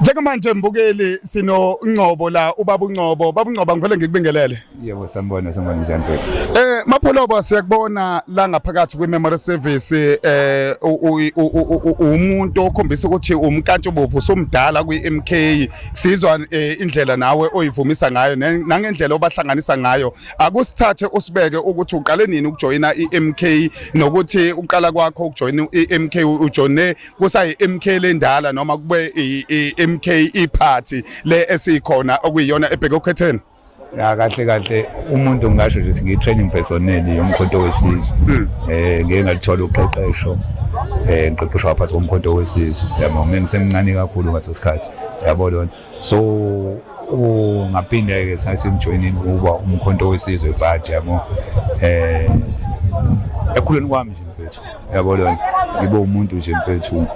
Njengamanje mbukeli sino Ngcobo la ubaba uNgcobo baba uNgcobo ngivele ngikubingelele Yebo sanibona sanibona njani mfethu Eh mapholobo siyakubona la ngaphakathi kwi memory service eh umuntu okhombisa ukuthi umkantsho bovu somdala kwi MK sizwa eh, indlela nawe oyivumisa ngayo nangendlela obahlanganisa ngayo akusithathe usibeke ukuthi uqale nini ukujoyina iMK nokuthi uqala kwakho ukujoyina iMK ujoyine kusayi MK lendala noma kube iMK iparty le esikhona okuyiyona ebheke ukhetheni ya kahle kahle umuntu ngasho nje ngiyi training personnel yomkhonto wesizwe hmm. eh ngeke ngalithola uqeqesho eh ngiqeqeshwa phansi komkhonto wesizwe yabo ngisemncane kakhulu ngaso sikhathi yabo lona so ungaphinda-ke sathi ngijoyinini ukuba umkhonto wesizwe ibhadi yabo eh ekhuleni kwami nje mfethu yabo lona ngibe umuntu nje mfethu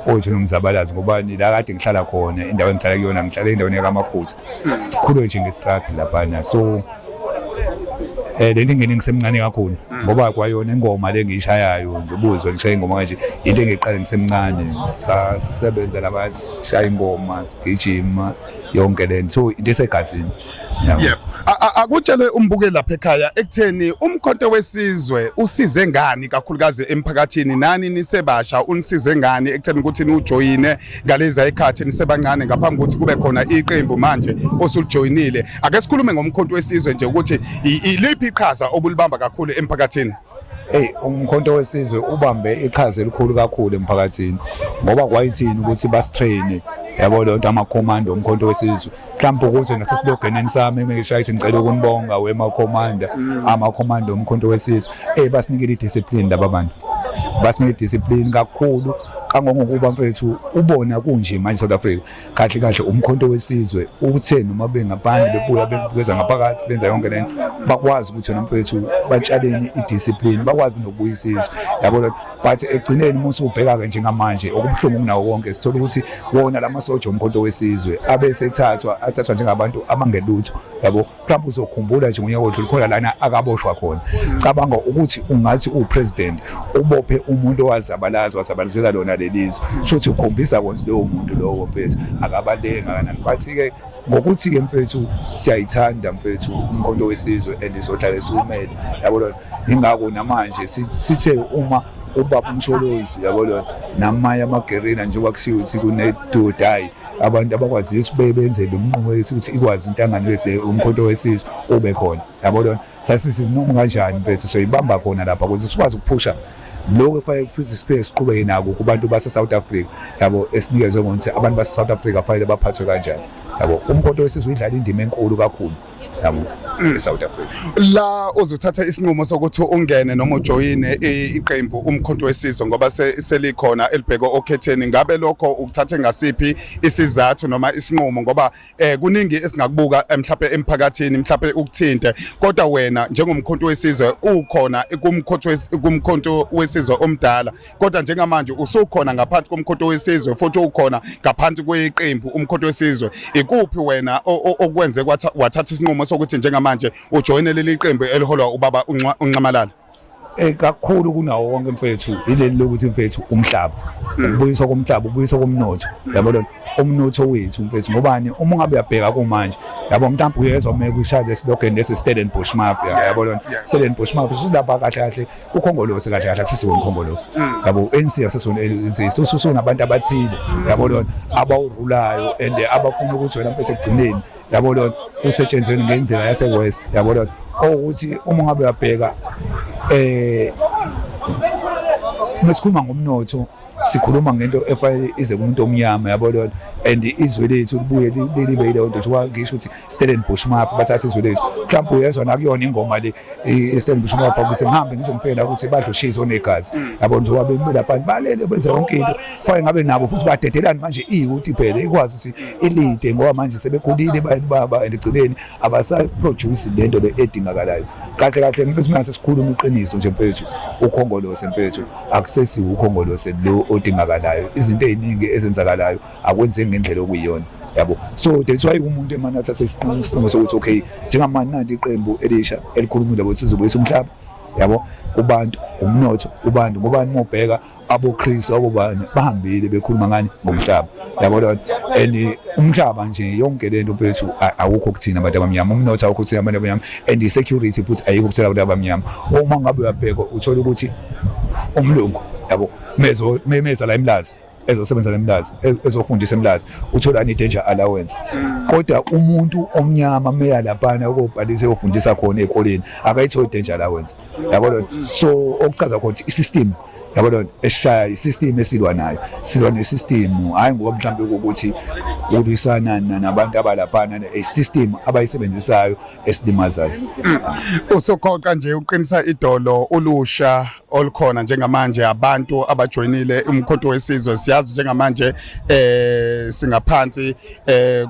othi nomzabalazi ngoba la kade ngihlala khona indawo engihlala kuyona ngihlala endaweni yakamakhutha sikhule nje ngesitradi laphana so Eh leli ngene ngisemncane kakhulu hmm. ngoba kwayona ingoma lengiyishayayo nje ubuzwe ngishaye ingoma kanje into engiqale ngisemncane sasebenza labashaya ingoma sigijima yonke lento so into esegazini yebo akutshele umbuke lapha ekhaya ekutheni umkhonto wesizwe usize ngani kakhulukazi emphakathini nani nisebasha unisize ngani ekutheni ukuthi niwujoyine ngalezi ayikhathi nisebancane ngaphambi kokuthi kube khona iqembu manje osulijoyinile ake sikhulume ngomkhonto wesizwe nje ukuthi iliphi iqhaza obulibamba kakhulu emphakathini Hey umkhonto wesizwe ubambe iqhaza elikhulu kakhulu emphakathini ngoba kwayithini ukuthi bastrain yabo lonto ama command omkhonto wesizwe mhlawumbe ukuze nasesilogeneni sami ngishaye ithi ngicela ukunibonga wemakhomanda mm. amakhomanda omkhonto wesizwe ey basinikele idiscipline laba bantu basinikele idiscipline kakhulu kangongokuba mfethu ubona kunje manje South Africa kahle kahle umkhonto wesizwe uthe noma bengaphandle bebuya bebukeza ngaphakathi benza yonke lento bakwazi ukuthi wena mfethu batshaleni idiscipline bakwazi nokubuyisizwa yabo but ekugcineni uma usubheka-ke njengamanje okubuhlungu kunawo konke sithola ukuthi wona la masoja omkhonto wesizwe abe esethathwa athathwa njengabantu abangelutho yabo mhlawumbe uzokhumbula nje ngonyaka odlule khona lana akaboshwa khona cabanga ukuthi ungathi uwupresident ubophe umuntu owazabalaza wazabalazela lona lelizwe shuthi ukhombisa konse lowo muntu lowo mfethu akabaluleke ngakanani bathi-ke ngokuthi-ke mfethu siyayithanda mfethu umkhonto wesizwe and sohlale siwumele yabo lona ingakho namanje sithe uma ubaba umsholozi yabo lona namanye amagerina njengoba kushiwo ukuthi kunedodayi abantu abakwaziyo ukuthi benze lo mnqumo wethu ukuthi ikwazi intangano wesile umkhonto wesizwe ube khona yabo lona sasithi noma kanjani mfethu soyibamba khona lapha ukuze sikwazi ukuphusha lokho kufanele kuphinde siphinde siqhubeke nako kubantu base-south africa yabo esinikezwe ngokuthi abantu base-south africa kufanele baphathwe kanjani yabo umkhonto wesizwe uyidlala indima enkulu kakhulu yabo mm. eSouth Africa la uzothatha isinqumo sokuthi ungene noma ujoyine iqembu umkhonto wesizwe ngoba selikhona elibheke okhetheni ngabe lokho ukuthathe ngasiphi isizathu noma isinqumo ngoba eh kuningi esingakubuka eh, mhlawumbe emphakathini mhlawumbe ukuthinte kodwa wena njengomkhonto wesizwe ukhona kumkhonto kumkhonto wesizwe omdala kodwa njengamanje usukhona ngaphansi komkhotho wesizwe futhi ukhona ngaphansi kweqembu umkhotho wesizwe ikuphi wena okwenze wathatha isinqumo sokuthi njengamanje ujoyine leli qembu eliholwa ubaba unxamalala eh kakhulu kunawo wonke mfethu ileli lokuthi mfethu umhlaba hmm. ubuyiswa komhlaba ubuyiswa komnotho yabo lona umnotho wethu mfethu ngobani uma ungabe uyabheka kumanje yabo mntambo uyezwa uma kushaya lesilogeni lesi Stellenbosch Mafia yabo lona Stellenbosch Mafia usilapha kahle kahle ukhongolose kahle kahle akusisi wona ukhongolose mm. yabo ANC akusisi wona ANC so so nabantu abathile mm. yabo lona abawurulayo and abafuna ukuthi wena mfethu ekugcineni yabo lona usetshenzwe ngendlela yase west yabo lona ukuthi uma ngabe uyabheka eh mesikhuluma ngomnotho sikhuluma ngento efanele ize kumuntu omnyama yabo lona and izwe lethu libuye libe yileyo nto kuthiwa ngisho ukuthi Stellenbosch Mafia bathatha izwe lethu mhlawumbe uyezwa nakuyona ingoma le Stellenbosch Mafia ukuthi ngihambe ngizomfela ukuthi badle ushizi onegazi mm. yabo njengoba bemile abantu balele benze yonke into kufanele ngabe nabo futhi badedelani manje iyuti phela ikwazi ukuthi ilide ngoba manje sebekhulile abantu baba and igcineni abasaproduce lento le edingakalayo kahle kahle mfethu mase sikhuluma iqiniso nje mfethu ukhongolose mfethu Akusesi ukhongolose lo odingakalayo. Izinto eziningi ezenzakalayo akwenzeki ngendlela okuyiyona. Yabo. So that's why umuntu emana athatha isinqumo isinqumo sokuthi okay, njengamanje nanti iqembu elisha elikhulumile ukuthi uzobuyisa umhlaba. Yabo. Kubantu, umnotho, kubantu ngoba nimobheka aboKristu abobani bahambile bekhuluma ngani ngomhlaba yabo lona and umhlaba nje yonke lento bethu awukho kuthina abantu abamnyama umnotho awukho kuthina abantu abamnyama and i-security futhi ayikho ukuthela abantu abamnyama uma ngabe uyabheka uthola ukuthi umlungu yabo mezo memeza la emlazi ezosebenza nemlazi e-, ezofundisa emlazi uthola ni danger allowance mm. kodwa umuntu omnyama meya laphana ukobhalisa eyofundisa khona ezikoleni akayitholi danger allowance yabo so okuchaza khona i-system yabo lona esishaya isystem esilwa nayo silwa nesystem hayi ngoba mhlawumbe ukuthi ulwisana nabantu abalaphana isystem abayisebenzisayo esilimazayo mm. usoqoqa nje uqinisa idolo ulusha olukhona njengamanje abantu abajoyinile umkhonto wesizwe siyazi njengamanje eh singaphansi eh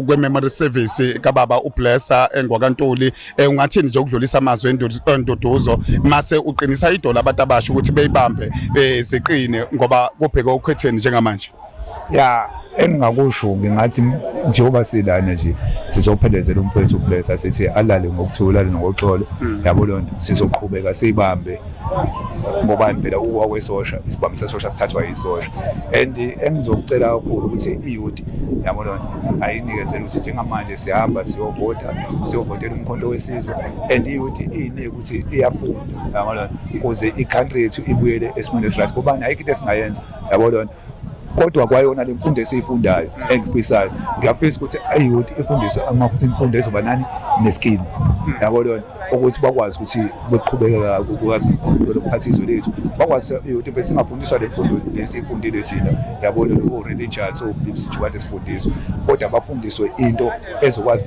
kwememory service kababa ublessa engwakantuli eh, ungathini nje ukudlulisa amazwi enduduzo mase uqinisa idola abantu abasha ukuthi beyibambe eh, ziqine ngoba kubheke okhetheni njengamanje ya engingakusho ngingathi njengoba silana nje sizophelezela umfowethu ublessa sithi alale ngokuthula ngoxolo hmm. yabo lonto sizoqhubeka sibambe mm. ngobani phela ukwesosha isibambi sesosha sithathwa yisosha and engizokucela kakhulu ukuthi iyouth yabo lona ayinikezele ukuthi njengamanje sihamba siyovota siyovotela umkhonto wesizwe and iyouth iyinike ukuthi iyafunda yabo lona kuze i-country yethu ibuyele esimweni esirathi kubani ayikho into esingayenza yabo lona kodwa kwayona le mfundo esiyifundayo engifisayo ngiyafisa ukuthi ayouth ifundiswe imfundo ezoba nani neskill yabo lona ukuthi bakwazi ukuthi beqhubekeka kwazi ukukhombela ukuphatha izwe lethu bakwazi ukuthi bese singafundiswa le mfundo nesifundile thina yabo lona o-religious o-bibsithu kade sifundiswa kodwa bafundiswe into ezokwazi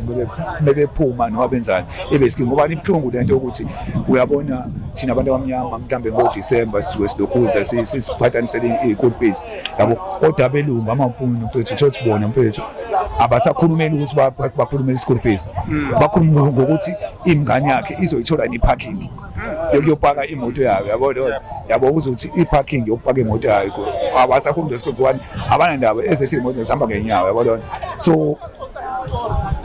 mebephuma noma benzani ibe skingo ngoba ibuhlungu le nto yokuthi uyabona thina abantu abamnyama mhlawumbe ngodisemba sisuke silokhuza sisiphathanisele i-school fees yabo kodwa abelungu amampungu mfethu thothi bona mfethu abasakhulumeli ukuthi bakhulumele i-school fees hmm. bakhuluma ngokuthi ingane yakhe izoyithola ne-parking hmm. yokuyopaka imoto yayo yabo yabo uzothi i-parking yokupaka imoto yayo abasakhulumela isikole one abanandaba ezesimoto zihamba ngenyawo yabo lona so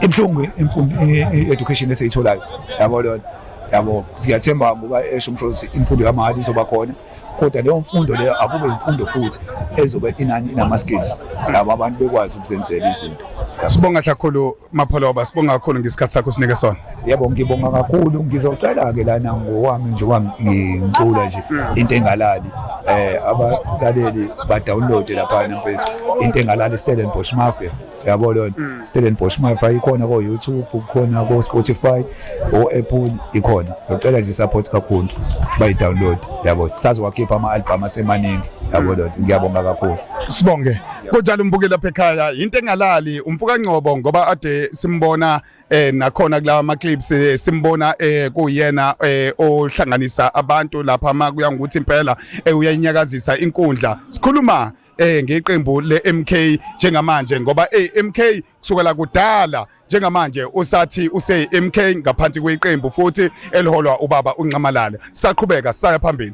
ibuhlungu imfundo i-education esiyitholayo yabo lona yabo siyathemba ngoba esho umsholosi imfundo yamahhala izoba khona kodwa leyo mfundo leyo akube imfundo futhi ezobe inani inama-skills labo abantu bekwazi ukuzenzela izinto sibonga kakhulu mapholoba sibonga kakhulu ngesikhathi sakho sinike sona yebo ngibonga kakhulu ngizocela-ke lana ngowami nje wangicula nje into engalali um abalaleli badownloade laphana mfethu into engalali istellenbosh mafia yabo leyo nto mm. stellenbosch mafa ikhona ko-youtube kukhona ko-spotify o-apple ikhona zocela nje support kakhulu bayi-download yabo sazowakhipha ama-albham asemaningi yabo mm. leyo nto ngiyabonga kakhulu sibonge kunjalo umbuke lapha ekhaya yinto engalali umfuka ngcobo ngoba ade simbona eh nakhona kulawa ama clips eh, simbona eh kuyena eh ohlanganisa abantu lapha makuya ngokuthi impela eh, uyayinyakazisa inkundla sikhuluma eh ngeqembu leMK njengamanje ngoba eMK eh, kusukela kudala njengamanje usathi use MK ngaphansi kweqembu futhi eliholwa ubaba uNxamalala saqhubeka saya phambili